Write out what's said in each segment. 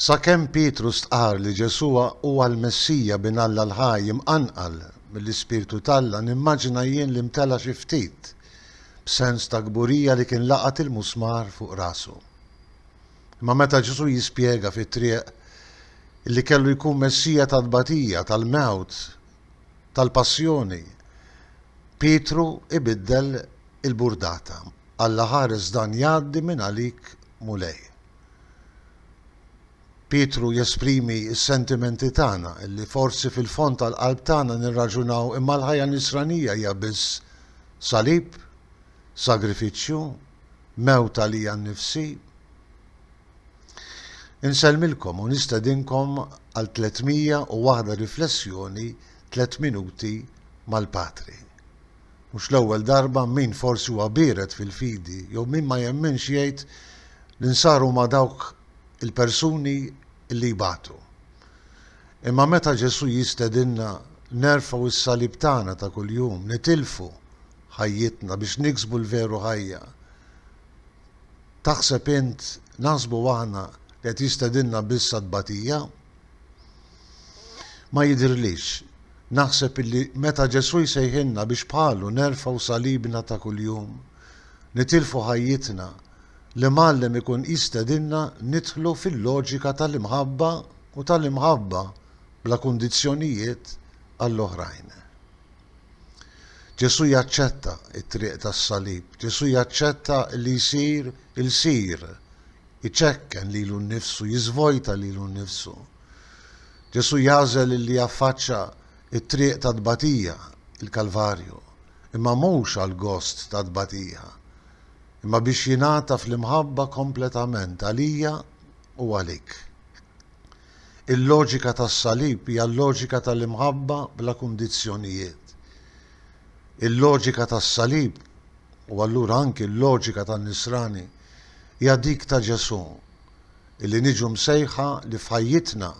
Sakemm Pietru stqarr li Ġesù huwa l-Messija bin Alla l-ħaj imqanqal mill-Ispirtu t'Alla, nimmaġina jien li mtela' xi ftit b'sens ta' kburija li kien laqat il-musmar fuq rasu. Imma meta Ġesù jispjega fit-triq li kellu jkun Messija tat-tbatija, tal-mewt, tal-Passjoni, Pietru ibiddel il-burdata, Alla ħares dan jgħaddi minn għalik Mulej. Pietru jesprimi s-sentimenti tagħna, li forsi fil-fond tal-qalb tagħna nirraġunaw imma l-ħajja Nisranija hija biss salib, sagrifiċċju, mewt għalija nnifsi. Insellmilkom u nistedinkom għal 301 riflessjoni tliet minuti mal-Patri. Mhux l-ewwel darba min forsi huwa biered fil-fidi jew min ma jemminx jgħid li nsar huma dawk il-persuni li jbatu. Imma meta Ġesù jistedinna nerfgħu s-salib tagħna ta' kuljum, nitilfu ħajjitna biex niksbu l-veru ħajja, Taħseb int, naħsbu aħna, li qed jistedinna biss għat-tbatija? Ma jidhirlix. Naħseb illi meta Ġesù jsejħilna biex bħalu nerfgħu salibna ta' kuljum, nitilfu ħajjitna, l-Imgħallem ikun jistedinna nidħlu fil-loġika tal-imħabba u tal-imħabba bla kundizzjonijiet għall-oħrajn. Ġesù jaċċetta t-triq tas-salib. Ġesù jaċċetta li jsir ilsir, iċekken lilu nnifsu, jiżvojta lilu nnifsu. Ġesù jagħżel li jaffaċċa t-triq tat-tbatija, il-Kalvarju, imma mhux għall-gost tat-tbatija, imma biex jingħata fl-imħabba kompletament għalija u għalik. Il-loġika tas-Salib hija l-loġika tal-imħabba bla kundizzjonijiet. Il-loġika tas-Salib, u allura anki l-loġika tan-Nisrani, hija dik ta' Ġesù, li niġu msejħa li f'ħajjitna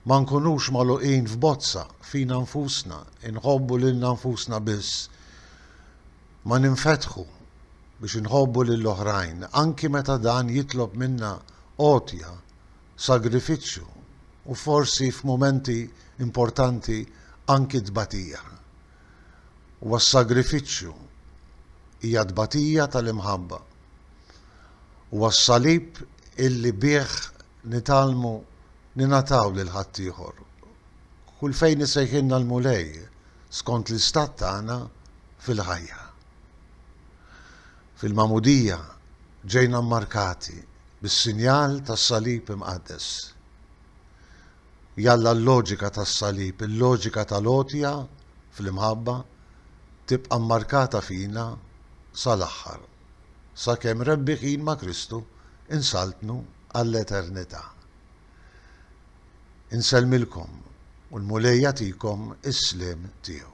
ma nkunux magħluqin f'bozza fina nfusna, inħobbu lilna nfusna biss, ma ninfetħu biex inħobbu lill-oħrajn, anki meta dan jitlob minna għotja sagrifiċċju u forsi f'mumenti importanti anki tbatija. Huwa s-sagrifiċċju, hija t-tbatija tal-imħabba. Huwa s-salib illi bih nitgħallmu ningħataw lil ħaddieħor. Kull fejn isejħilna l-Mulej skont l-istat tagħna fil-ħajja. Fil-Magħmudija ġejna mmarkati bis-sinjal tas-Salib Imqaddes. Jalla l-loġika tas-Salib, il-loġika tal-għotja fl-imħabba, tibqa' mmarkata fina sal-aħħar, sakemm rebbieħin ma' Kristu insaltnu għall-eternità. Insellmilkom u l-Mulej jagħtikom is-sliem tiegħu.